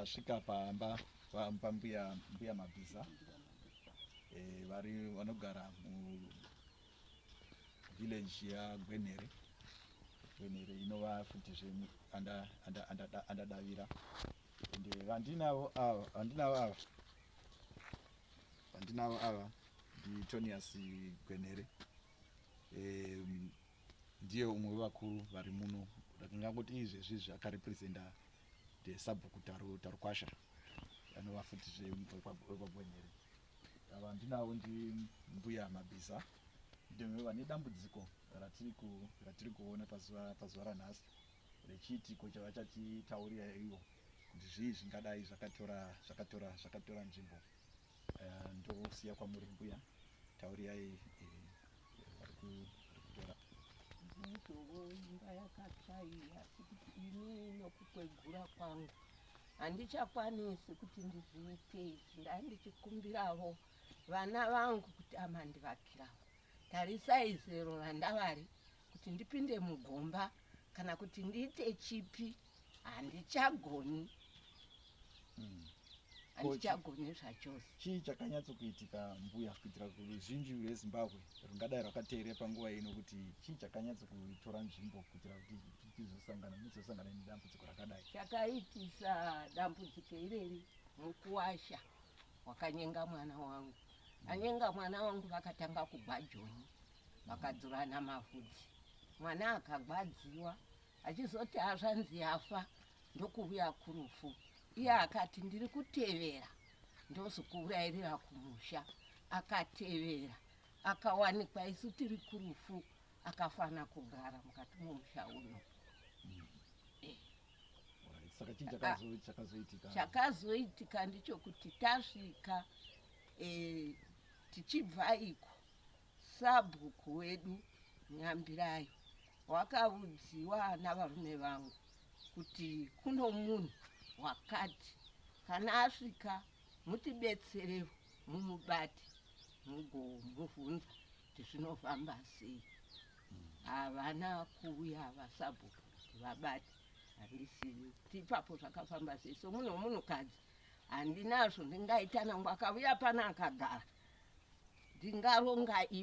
tasvika pamba pambuya mbuya mabhiza e, eh, vari vanogara muvillage yagwenhere gwenhere inova futi zve andadavira Ende vandinavo ava, vandinavo ava, vandinavo ava ndiTonius Gwenhere um, ndiye umwe wevakuru vari muno ndakangangoti izvezvi izvi akarepresenta the sabhuku taru tarukwasha anova futi zvekwaGwenhere ava ndinavo ndi mbuya mabhiza ndimwe vane dambudziko ratiri kuona pazuva ranhasi rechiitiko chavachatitaurira ivo kuti zvii zvingadai zvakatora zvakatora zvakatora nzvimbo uh, ndosiya kwamuri mbuya taurirai ndizovo imba yakachaiya sekuti ini nokukwegura kwangu handichakwanisi kuti ndizviite izvi ndaa ndichikumbiravo vana vangu kuti amandivakiravo tarisai zero randavari kuti ndipinde mugomba kana kuti ndiite chipi handichagoni mm. handichagoni zvachose chii chakanyatsokuitika mbuya kuitira kuruzhinji rwezimbabwe rungadai rwakateere panguva ino kuti chii chakanyatsokutora nzvimbo kuitira kuti tizosangana muzosangana nedambudziko rakadai chakaitisa dambudziko ireri mukuwasha wakanyenga mwana wangu anyenga mwana wangu vakatanga kugwajoni vakadzurana mavhudzi mwana akagwadziwa achizoti hazvanzi yafa ndokuvuya kurufu iye akati ndiri kutevera ndozokuurayirira kumusha akatevera akawanikwa isu tiri kurufu akafana kugara mukati momusha uno chakazoitika ndichokuti tasvika eh, tichibva iko Sabhuku wedu Nyambirayi wakaudziwa navarume vangu kuti kuno munhu wakati kana asvika mutibetsere mumubate mugomuvhunza kuti zvinofamba sei. Havana kuuya vasabhuku kuti vabate handisivi kuti ipapo zvakafamba sei somunhu wemunhukadzi Handina zvandingaita nangu akavuya pano akagara ndingaronga ipi.